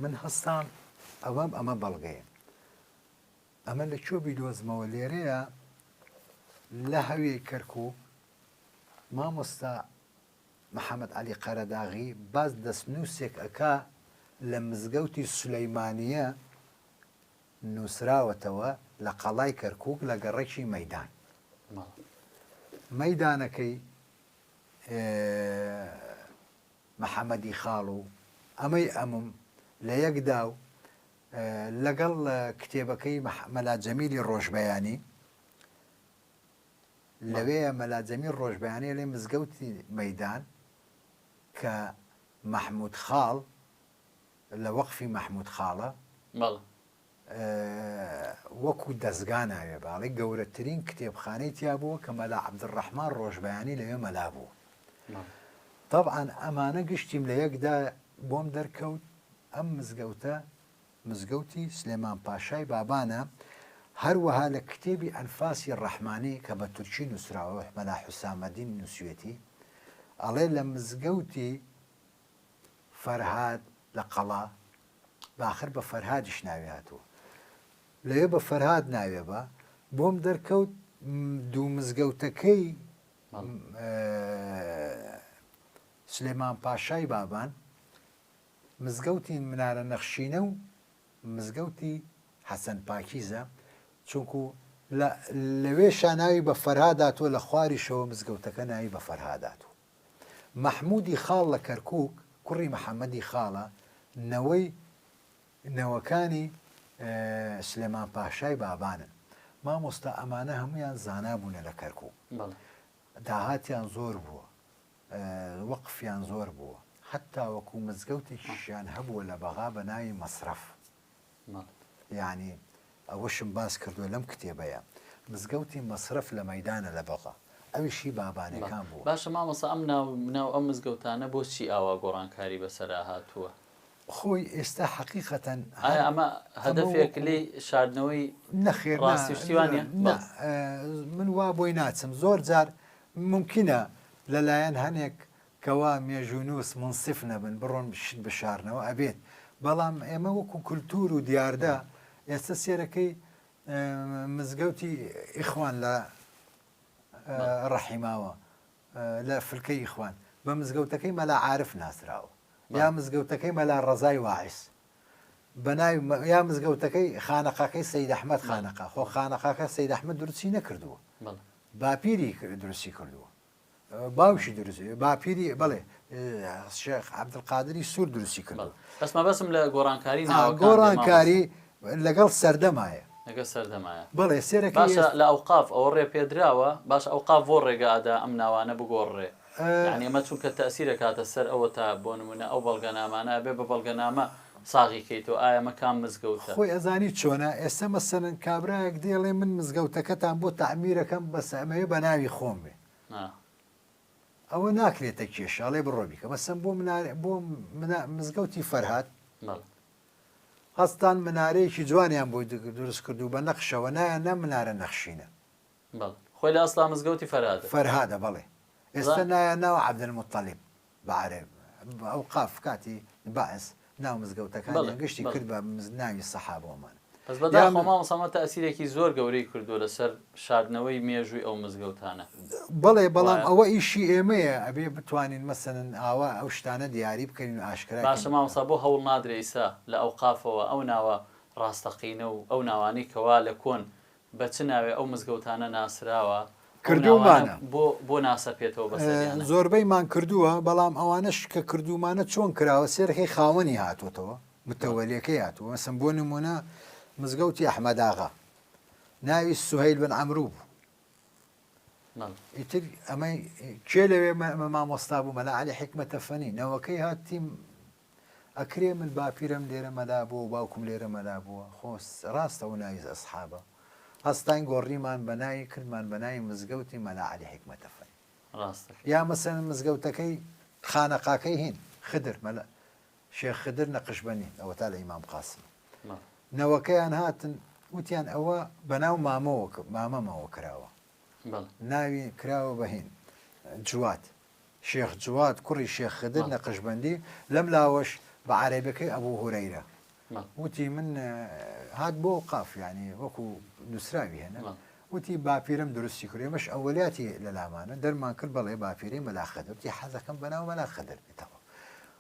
من هەستام ئەوەم ئەمە بەڵگەیە ئەمە لە کوێ بیدۆزمەوە لێرەیە لە هەوێ کەرکک مامۆستا محەممەد علی قەرەداغی باز دەستنووسێک ئەکا لە مزگەوتی سولەیمانە نووسراوەتەوە لە قەڵای کەرکک لە گەڕەکی مەدان مەدانەکەی محەمەدی خاڵ و ئەمەی ئەمم لە یەک دا و لەگەڵ کتێبەکەی مەلا جەمیلی ڕۆژبەیانی لەوێیە مەلا جەمیل ڕۆژبەیانی ئەڵێ مزگەوتی مەیدان کە مەحموود خاڵ لە وەقفی مەحموود خاڵە وەکو دەزگا ناوێ باڵی گەورەترین کتێبخانەی تیا بووە کە مەلا عەبدولڕەحمان ڕۆژبەیانی لەوێ مەلا بوو تەبعان ئەمانە گشتیم لە یەکدا بۆم دەرکەوت ئەم مزگەوتە مزگەوتی سلێمان پاشای بابانە هەروەها لە کتێبی ئەنفاسی ڕەحمانی کە بە تورکی نووسراوە مەلا حوسامەدین نووسویەتی ئەڵێ لە مزگەوتی فەرهاد لە قەڵا باخر بە فەرهادیش ناوی هاتووە لەوێ بە فەرهاد ناوێ بە بۆم دەرکەوت دوو مزگەوتەکەی سلێمان پاشای بابان مزگەوتی منارە نەخشینە و مزگەوتی حەسەن پاکیزە چونکو لەوێ شاناوی بە فەرهاداتوە لە خواریشەوە مزگەوتەکە ناوی بە فەرهاداتوە مەحموودی خاڵ لە کەرکووک، کوڕی محەمەدی خاڵە، نەوەی نەوەکانی سلێمان پاشای بابانن. مامۆستا ئەمانە هەموویان زانا بوونە لە کەرکووک. داهاتیان زۆر بووە. وەقفیان زۆر بووە. هەتاوەکوو مزگەوتێکیشیان هەبووە لە بەغا بە ناوی مەسرەف. یانی ئەوەشم باس کردوە لەم کتێبەیا مزگەوتی مەسرەف لە مەیدانە لە بەغا ئەویش هی بابانەکان بوە. باشە مامۆستا ئەم ناو ناو ئەم مزگەوتانە بۆچی ئاوا گۆڕانکاری بەسەرا هاتووە؟ خۆی ئێستا حەقیقەتەن هەر ئایا ئەمە هەدەفێک لێی شاردنەوەی نەخێر نا ڕاستی و شتی وانە؟ نا من وا بۆی ناچم زۆر جار مومکینە لەلایەن هەنێک کوا مێژوونووس مونسف نەبن بڕۆن شت بشارنەوە ئەبێت بەڵام ئێمە وەکو کولتوور و دیاردە ئێستا سێرەکەی مزگەوتی ئیخوان لە ڕەحیماوە لە فلکە ئیخوان بە مزگەوتەکەی مەلا عاعرف ناسراوە یا مزگەوتەکەی مەلا ڕزای واعس بەناوی یا مزگەوتەکەی خانەقاکەی سید ئەحمد خانەقا خۆ خانەقاکە سید ئەحمد درچی نەکردووە باپیری دروستی کردووە باوکی دروست باپیری بڵێ شێخ عبدقادری سوور دروستی کرد بەس مەبەسم لە گۆڕانکاری گۆڕانکاری لەگەڵ سەردەمایە لەگە سەردەمایە بڵێ سێرە باشە لە ئەو قاف ئەوە ڕێ پێدراوە باش ئەو قاف بۆ ڕێگادا ئەم ناوانە بگۆڕێ ئەمە چونکە تەسیرە کاتە سەر ئەوە تا بۆ نمونە ئەو بەڵگەنامانە بێ بە بەڵگەنامە ساغی کەی تۆ ئایا مە کام مزگەوتە. خۆی ئەزانی چۆنە ئێستا مەسەلەن کابرایەک دێڵێ من مزگەوتەکەتان بۆ تەعمیرەکەم بەس ئەمەوێ بەناوی خۆم بێ ئەوە ناکرێتە کێشە ئەڵێ بڕۆ بیکە مەسەن بۆ بۆ مزگەوتی فەرهاد هەستان منارەیەکی جوانیان بۆی دروست کردو بە نەخشەوە نایە نە منارە نەخشینە خۆی لە ئەسلا مزگەوتی فەرهاد فەرهادە بەڵێ ئێستا نایە ناوە عبدل مطلب بەعەرەب بە ئەوقاف کاتی بەعس ناو مزگەوتەکانیان گشتی کرد بە ناوی سەحابۆمان. بەس بەداخەوە مامۆستا ئەمە تەئسیرێکی زۆر گەورەی کردووە لەسەر شاردنەوەی مێژووی ئەو مزگەوتانە. بەڵێ بەڵام ئەوە ئیشی ئێمەیە ئەبێ بتوانین مەسەلەن ئاوا ئەو شتانە دیاری بکەین و ئاشکرا کەین. باشە مامۆستا بۆ هەوڵ نادرێ ئیستا لە ئەوقافەوە ئەو ناوە ڕاستەقینە و ئەو ناوانەی کەوا لە کۆن بە چ ناوێ ئەو مزگەوتانە ناسراوە؟ ئەو ناوانە کردوومانە. بۆ بۆ ناسەپێتەوە بە سەریانە؟ زۆربەیمان کردووە، بەڵام ئەوانەش کە کردوومانە چۆن کراوە سێرخی خاوەنی هاتۆتەوە، متەوەلێکەی هاتووە، مەسەن بۆ نموونە مزگەوتی ئەحمەداغا ناوی سوهەیل بن عەمرو بوو، بەڵێ. ئیتر ئەمەی کێ لەوێ مە مامۆستا بوو مەلا عەلی حیکمەتەفەنی نەوەکەی هاتیم ئەکرێ من باپیرەم لێرە مەلا بووە و باوکم لێرە مەلا بووە خۆ ڕاستە ئەو ناوی ئەسحابە هەستاین گۆڕیمان بە ناوی کردمان بە ناوی مزگەوتی مەلا عەلی حیکمەت ئەفەند ڕاستەکەی یا مەسەن مزگەوتەکەی خانەقاکەی هین خدر مەلا شێخ خدر نەقشبەنین ئەوە تا لە ئیمام قاسم بەڵێ نەوەکەیان هاتن وتیان ئەوە بە ناو مامەوە ک- مامەمەوە کراوە بەڵێ ناوی کراوە بە هین جوات شێخ جواد کوڕی شێخ خدر نەقشبەندی لەم لاوەش بە عەرەبەکەی ئەبوو هورەیرە وتی من هات بۆ قاف ینی وەکو نووسراوی هێنە وتی باپیرم درستی کرد ئێمەش ئەوەلیاتی لە لامانە دەرمان کرد بەڵێ باپیری مەلا خدرتی حەزەکەم بەناو مەلا خدر بێتەوە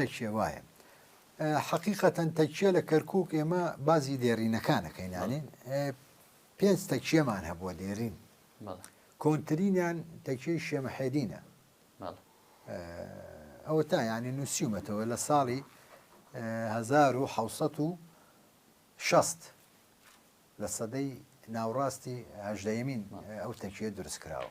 تەکیە وایە حەقیقەتەن تەکیە لە کەرکک ئێمە بازی دێرینەکانەکەینانێ پێنج تەکیەمان هەبووە دێرین کۆنترینیان تەکیەی شێمەحێدینە ئەوە تا ینی نووسیومەتەوە لە ساڵی 1960 لە سەدەی ناوڕاستی هەژدەمین ئەو تەکیە دروست کراوە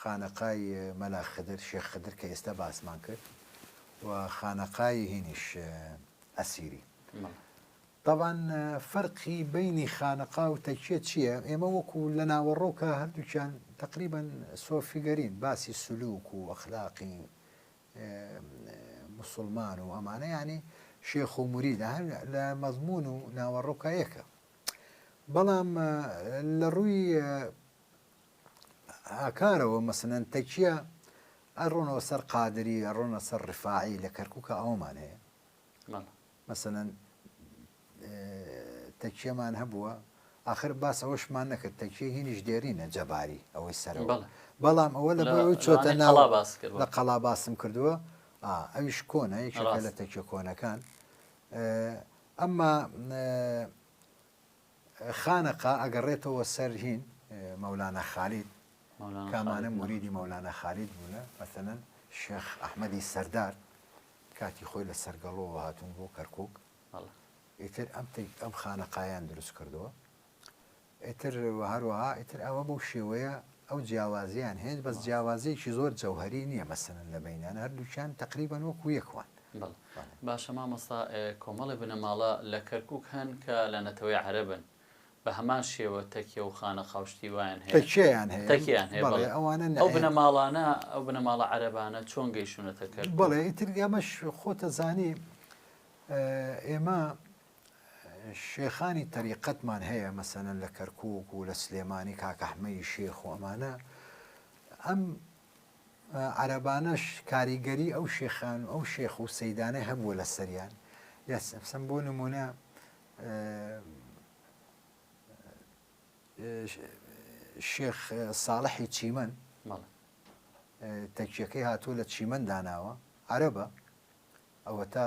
خانەقای مەلا خدر، شێخ خدر، کە ئێستا باسمان کرد و خانەقای هینیش ئەسیری. تەبان فەرقی بینی خانەقا و تەکیە چییە؟ ئێمە وەکو لە ناوەڕۆکە هەردووکیان تقریبان سۆفیگەرین باسی سلوک و ئەخلاقی مسلمان و ئەمانە ینی شێخ و مریدە هەر لە مەزمون و ناوەڕۆکایەکە بەڵام لە ڕووی هاکارەوە مەسەلەن تەکیە ئەڕۆنەوە سەر قادری ئەڕۆنە سەر ڕفاعی لە کەرکووکە ئەوەمان هەیە مەسەەن تەکیەمان هەبووە آخر باس ئەوەشمان نەکرد تەکیە هینیش دێرینە جەباری ئەوەی سەر بەڵام ئەوە لە چۆتە ناڵ لە قەڵا باسم کردووە ئەویش کۆنە یەکێکە لە تەکیە کۆنەکان ئەمما خانەقا ئەگەڕێتەوە سەر هین مەولانا خالید کامانە موریدی مەولانا خالید بوونە مەسەلەن شێخ ئەحمەدی سەردار کاتی خۆی لە سەرگەڵەوە هاتون بۆ کەرکک ئیتر ئەم ئەم خانەقایان دروست کردووە ئیتر هەروەها ئیتر ئەوە بەو شێوەیە ئەو جیاوازیەیان هەیە بەس جیاوازیەکی زۆر جەوهەری نیە مەسەلەن لە بەینیان هەردوکیان تەقریبەن وەکو یەک وان. باشە مامۆستا کۆمەڵێ بنەماڵە لە کەرکوک هەن کە لە نەتەوەی عەرەبن بە هەمان شێوە تەکیە و خانەقا و شتی وایان هەیە؟ تەکیەیان هەیە تەکیەیان هەیە بەڵێ ئەوانە نە ئەو بنەماڵانە ئەو بنەماڵە عەرەبانە چۆن گەیشتونەتە کەرکوک؟ بەڵێ ئیتر ئەمەش خۆت دەزانی ئێمە شێخانی تەریقەتمان هەیە مەسەلەن لە کەرکووک و لە سلێمانی کاک ئەحمەدی شێخ و ئەمانە ئەم عەرەبانەش کاریگەری ئەو شێخان و ئەو شێخ و سەیدانە هەبووە لە سەریان یا سەفسم بۆ نمونە شێخ ساڵحی چیمەن تەکیەکەی هاتووە لە چیمەن داناوە عەرەبە ئەوە تا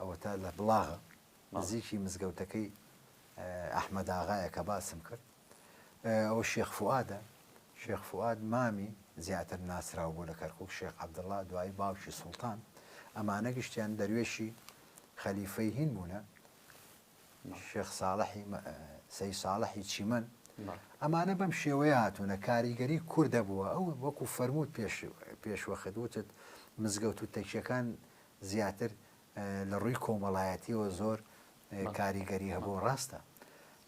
ئەوەتا لە بڵاغە نزیکی مزگەوتەکەی ئەحمەداغایە کە باسم کرد ئەوە شێخ فوادە شێخ فواد مامی زیاتر ناسراو بوو لە کەرکک شێخ عبدڵا دوایی باوکی سوڵتان ئەمانە گشتیان دەروێشی خەلیفەی هین بوونە شێخ ساڵحی سەی ساڵحی چیمەن ئەمانە بەم شێوەیە هاتوونە کاریگەری کووردە بووە ئەو وەکو فەرمووت پێش پێشوەخت وتت مزگەوت و تەکیەکان زیاتر لە ڕووی کۆمەڵایەتیەوە زۆر کاریگەری هەبوو ڕاستە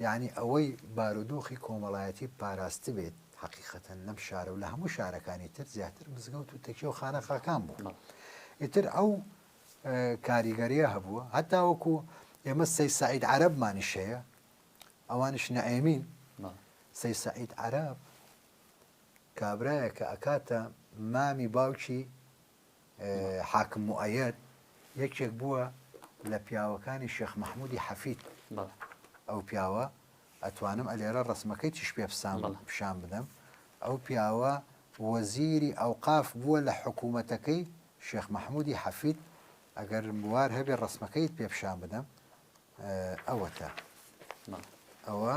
یعنی ئەوەی بارودۆخی کۆمەڵایەتی پاراست بێت حقیقەتەن لەم شارە و لە هەموو شارەکانی تر زیاتر مزگەوت و تەکی و خانەقاکان بوو ئیتر ئەو کاریگەریە هەبووە هەتا وەکو ئێمە سەی سعید عربمانیش هەیە ئەوانش نەئەمین سەی سعید عرب کابراایە کە ئەکاتە مامی باوکی حاکم موئەیەد یەکێک بووە لە پیاوەکانی شێخ مەحموودی حەفید ئەو پیاوە ئەتوانم ئەلێرە ڕسمەکەی چش پێ پسان پیشان بدەم ئەو پیاوە وەزیری ئەوقاف بووە لە حکوومەتەکەی شێخ مەحموودی حەفید ئەگەر بوار هەبێ ڕسمەکەیت پێ پیشان بدەم ئەوەتە ئەوە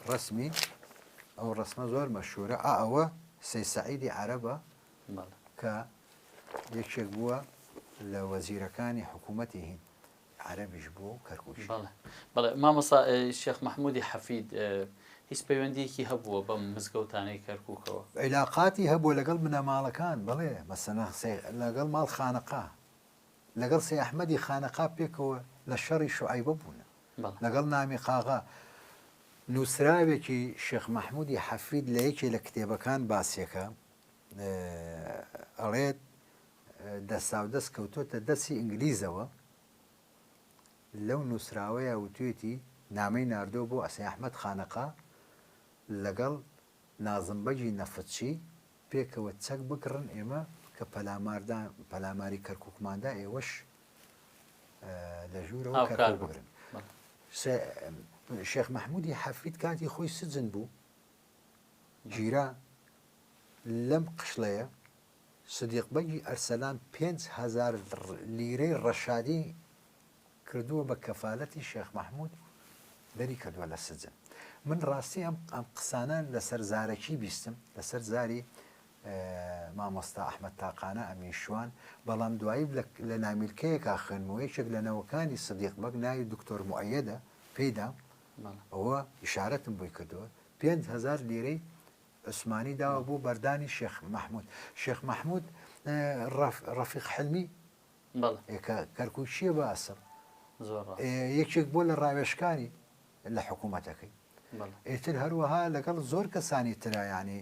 ڕسمی ئەو ڕسمە زۆر مەشهورە ئەوە سەی سەعیدی عەرەبە کە یەکێک بووە لە وەزیرەکانی حکوومەتی هیند عەرەبیش بووە و کەرکووکی. بەڵێ بەڵێ مامۆستا شێخ مەحموودی حەفید هیچ پەیوەندییەکی هەبووە بەم مزگەوتانەی کەرکووکەوە؟ عیلاقاتی هەبووە لەگەڵ بنەماڵەکان بەڵێ مەسەنا لەگەڵ ماڵ خانەقا لەگەڵ سەی ئەحمەدی خانەقا پێکەوە لە شەڕی شوعەیبە بوونە لەگەڵ نامی قاغا نووسراوێکی شێخ مەحموودی حەفید لە یەکێ لە کتێبەکان باسیەکە ئەڵێت دەستاودەست کەوتۆتە دەستی ئینگلیزەوە لەو نووسراوەیە وتوێتی نامەی ناردۆ بۆ ئەسێ ئەحمەد خانەقا لەگەڵ نازمبەگی نەفتچی پێکەوە چەک بکڕن ئێمە کە پەلاماردا پەلاماری کەرککماندا ئێوەش لە ژوورەوە کار بگرن شێخ مححمودی حەفید کاتی خۆی سجن بوو گیرا لەم قشڵەیە سدیق بەگی ئەرسەلان پێنج هەزار لیرەی ڕەشادی کردووە بە کەفالەتی شێخ مەحمود دەری کردووە لە سجن من ڕاستی ئەم ئەم قسانە لەسەر زارەکی بیستم لەسەر زاری مامۆستا ئەحمد تاقانە ئەمین شوان بەڵام دوایی لە نامیلکەیەکا خوێنمەوە یەکێک لە نەوەکانی سدیق بەگ ناوی دکتۆر معەدە پێدا ئەوە ئیشارەتم بۆی کردووە پێنج هەزار لیرەی عوسمانی داوە بۆ بەردانی شێخ مەحمود شێخ مەحمود ڕەفیق حلمی کەرکوچیە بە ئەسڵ یەکێک بۆ لە ڕاوێشکانی لە حکوومەتەکەی ئیتر هەروەها لەگەڵ زۆر کەسانی ترایانی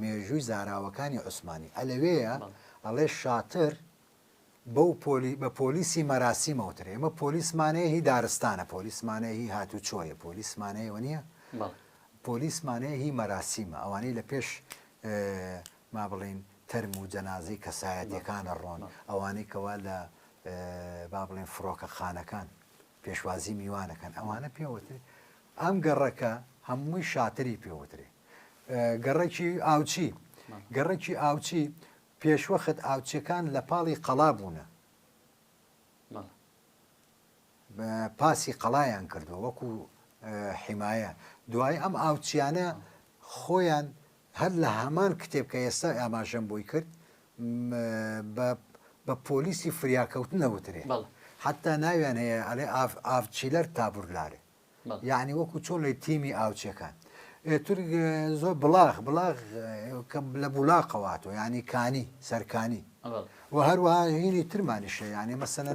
مێژووی زاراوەکانی عوسمانی ە لەوێیە ئەڵێ شاتر بەو پۆلی بە پۆلیسی مەراسیم ئەوترێ ئێمە پۆلیسمان هەیە هی دارستانە پۆلیسمان هەیە هی هاتوچۆیە پۆلیسمان هەیە و نییە بەڵێ پۆلیسمان هەیە هی مەراسیمە ئەوانەی لە پێش ئێ، ما بڵێین تەرم و جەنازەی کەسایەتیەکان ئەڕۆن ئەوانەی کەوا لە ئێ، با بڵێین فڕۆکەخانەکان پێشوازی میوانەکەن ئەوانە پێوترێ ئەم گەڕەکە هەمووی شاتری پێوترێ گەڕەکی ئاوچی گەڕەکی ئاوچی پێشوەخت ئاوچەکان لە پاڵی قەڵا بوونە پاسی قەڵایان کردووە وەکو حیمایە دوای ئەم ئاوچیانە خۆیان هەر لە هەمان کتێب کە ئێستا ئاماژەم بۆی کرد بە پۆلیسی فریاکەوتن نەوترێ حتا ناویان هەیە ئەێ ئاف چیلەر تابورلارێ یانی وەکو چۆن لەی تیمی ئاوچەکان ئێتر زۆر بڵاغ بڵاغ کە لە بولاقەواتۆ ینی کانی سەرکانی و هەروەها هینی ترمانیشە یانی مەسەن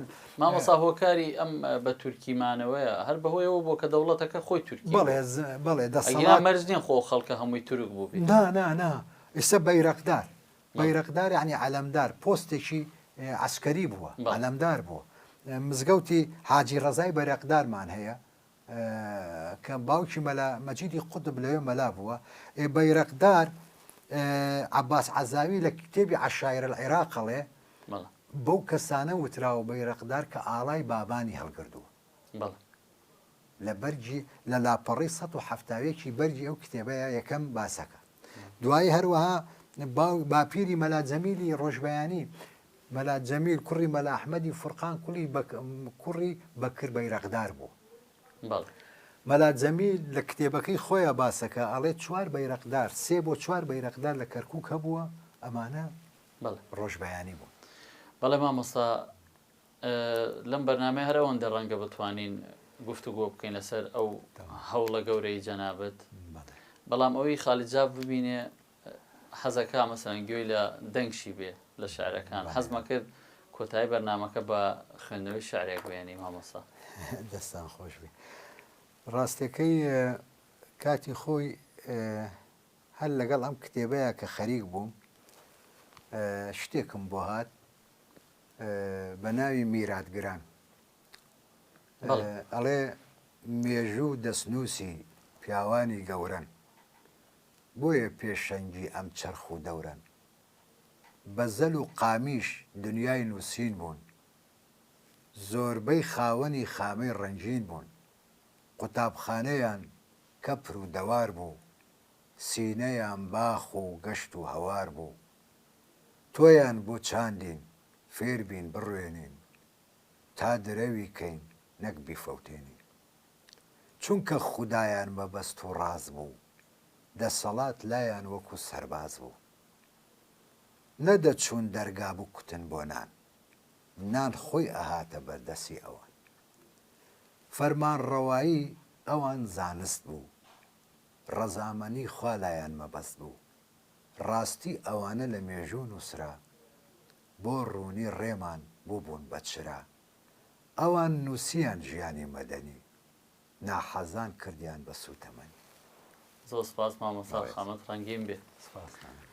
مامەسا هۆکاری ئەم بە تورکیمانەوەیە هەر بەهۆیەوە بۆ کە دەوڵەتەکە خۆی تورکی بڵێ بڵێ دەسەڵات مەرزنیان خۆ خەڵکە هەمووی تورک بوو نا نا نا ئێستا بەیرەقدار بەیرەقدار یەعنی عەلەمدار پۆستێکی عەسکەری بووە عەلەمدار بووە مزگەوتی حاجی ڕەزای بەرەقدارمان هەیە کە باوکی مەلا مەجیدی قوتب لەوێ مەلا بووە ئێ بەیرەقدار عباس عەزاوی لە کتێبی عشاعرە العێراقەڵێ بەو کەسانە وتراوە بەیرەقدار کە ئاڵای بابانی هەڵگردووە بەڵێ. لە بەرگی، لە لاپەڕەی سەد و حەفتا و یەک ی بەرگی ئەو کتێبەیا یەکەم باسەکە. دوایی هەروەها باو، باپیری مەلا جەمیلی ڕۆژبەیانی، مەلا جەمیل کوڕی مەلا ئەحمەدی فورقان کولی بەک، کوڕی بەکر بەیرەقدار بوو. بەڵێ. مەلا جەمیل لە کتێبەکەی خۆیا باسەکە ئەڵێ چوار بەیرەقدار، سێ بۆ چوار بەیرەقدار لە کەرکووک هەبووە، ئەمانە بەڵێ. ڕۆژبەیانی بوون. بەڵێ مامۆستا لەم بەرنامەیە هەر ئەوەندە ڕەنگە بتوانین گفتوگۆ بکەین لەسەر ئەو هەوڵە گەورەی جەنابەت بەڵام ئەوی خالی جاف ببینێ حەزەکە مەسەن گوێی لە دەنگشی بێ لە شعرەکان حەزمە کرد کۆتایی بەرنمەکە بە خوێندنەوەی شعرێک بێنی مامۆسا دەستان خۆش بێ ڕاستەکەی کاتی خۆی هەر لەگەڵ ئەم کتێبەیە کە خەریک بووم شتێکم بۆ هات بە ناوی میرات گران ئەڵێ مێژوو دەستنووسی پیاوانی گەورەن بۆیە پێشەنگی ئەم چەرخ و دەورەن بە زەل و قامیش دنیای نووسین بوون زۆربەی خاوەنی خامەی ڕەنگین بوون قوتابخانەیان کەپر و دەوار بوو سینەیان باخ و گەشت و هەوار بوو تۆیان بۆ چاندین فێر بین بڕوێنین تا درەوی کەین نەک بیفەوتێنین چونکە خودایان مەبەست و ڕاز بوو دەسەڵات لایان وەکو سەرباز بوو نە دەچوون دەرگا بکوتن بۆ نان نان خۆی ئەهاتە بەر دەسی ئەوان فەرمانڕەوایی ئەوان زانست بوو ڕەزامەنی خوا لایان مەبەست بوو. ڕاستی ئەوانە لە مێژوو نووسرا، بۆ ڕوونی ڕێمان بووبوون بە چرا. ئەوان نووسیان ژیانی مەدەنی، ناحەزان کردیان بە سووتەمەنی. زۆر سپاس مامۆستا خامەت ڕەنگین بێ. سپاس کانێ.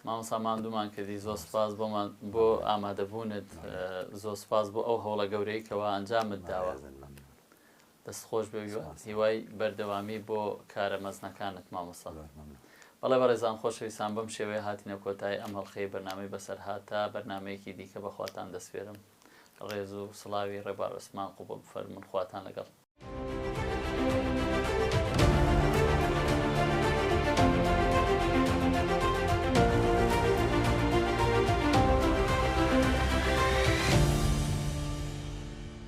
مامۆستا ماندوومان کردی زۆر سپاس بۆمان بۆ ئامادەبوونت زۆر سپاس بۆ ئەو هەوڵە گەورەی کەوا ئەنجامت داوە. بەڕێزت مەمنون. دەست خۆش بێ هیوای بەردەوامی بۆ کارە مەزنەکانت مامۆستا. بەڵێ بەڕێزان خۆشەویستان بەم شێوەیە هاتینە کۆتایی ئەم هەڵقەی بەرنامەی بەسەرهات تا بەرنامەیەکی دیکە بەخواتان دەسپێرم ڕێز و سڵاوی ڕێبار عوسمان قوبڵ بفەرمون خواتان لەگەڵ.